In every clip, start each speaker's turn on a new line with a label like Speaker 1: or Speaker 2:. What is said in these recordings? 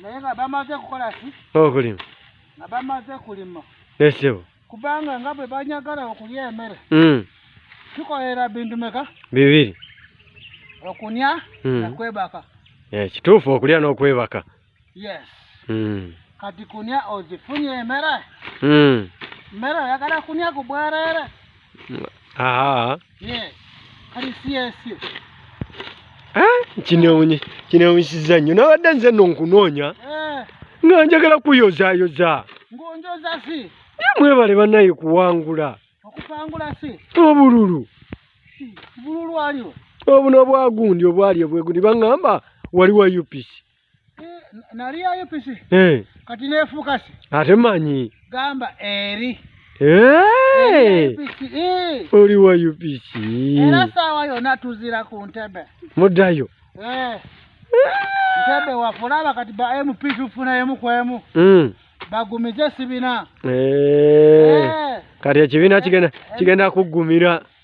Speaker 1: naye nga bamaze kukola ki okulima
Speaker 2: nga bamaze
Speaker 1: kulima esebo
Speaker 2: kubanga nga bwe
Speaker 1: banyagala okulya emere hmm. tukolera bintu meka bibiri okunya hmm. nakwebaka eh, kituufu
Speaker 2: okulya n'okwebaka yes
Speaker 1: hmm. kati kunya ozifunye emere mmere oyagala kunya ku bwereere aa
Speaker 2: kinewunyisiza nnyo nabadde nze no nkunoonya eh. nga njagala kuyozayoza
Speaker 1: mwebale banaye
Speaker 2: kuwangula
Speaker 1: obululu obuno obwagundi
Speaker 2: obwali obwegundi baŋamba waliwo upc
Speaker 1: naliyayo pisi eh. kati nefukasi ate manyi
Speaker 2: gamba eri
Speaker 1: eh. eh.
Speaker 2: oli wa upc era saawa
Speaker 1: yona tuzira ku ntebe muddayo ntebe wafulaba kati ba mp tufunayemu kwemu mm. bagumize esibina
Speaker 2: kati ekibiina kigenda kuggumira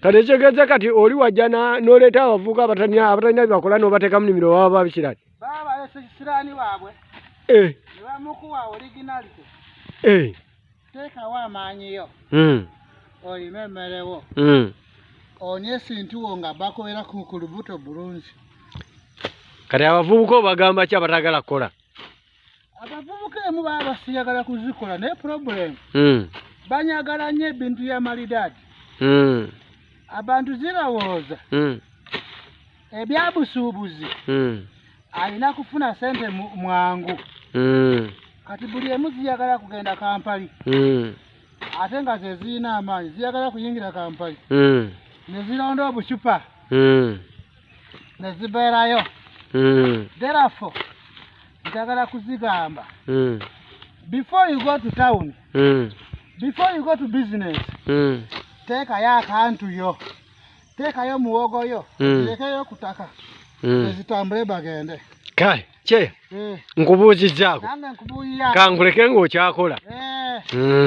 Speaker 2: kati ekitegeeza kati oli wajja noleeta abavuuka abatanya abatalina byebakola nobateeka mu nimiro baba babikirani eh.
Speaker 1: eh. teekawo amaanyiyo hmm. olime emmerewo hmm. onye esintuwo nga bakubeera ku lubuto bulungi
Speaker 2: kati abavubuka obagamba ki abatagala kukola abavubuka
Speaker 1: emu baba basiyagala kuzikola naye problem hmm. banyagala nnyo ebintu ya malidaadi hmm. abantu zirowooza hmm. ebyabusuubuzi alina kufuna sente mwangu kati buli emu ziyagala kugenda kampali ate nga zezirina amaanyi ziyagala kuyingira kampali nezirondoobucupa ne zibeerayo mm. therefore njagala kuzigamba mm. before you go to town mm. before you go to business mm. teekayo akantu yo teekayo muwogo yo mm. lekeyo kutaka mm. ezitambule bagende kale kye eh.
Speaker 2: nkubuuzizaako
Speaker 1: kanguleke
Speaker 2: ngaokyakola
Speaker 1: eh. mm.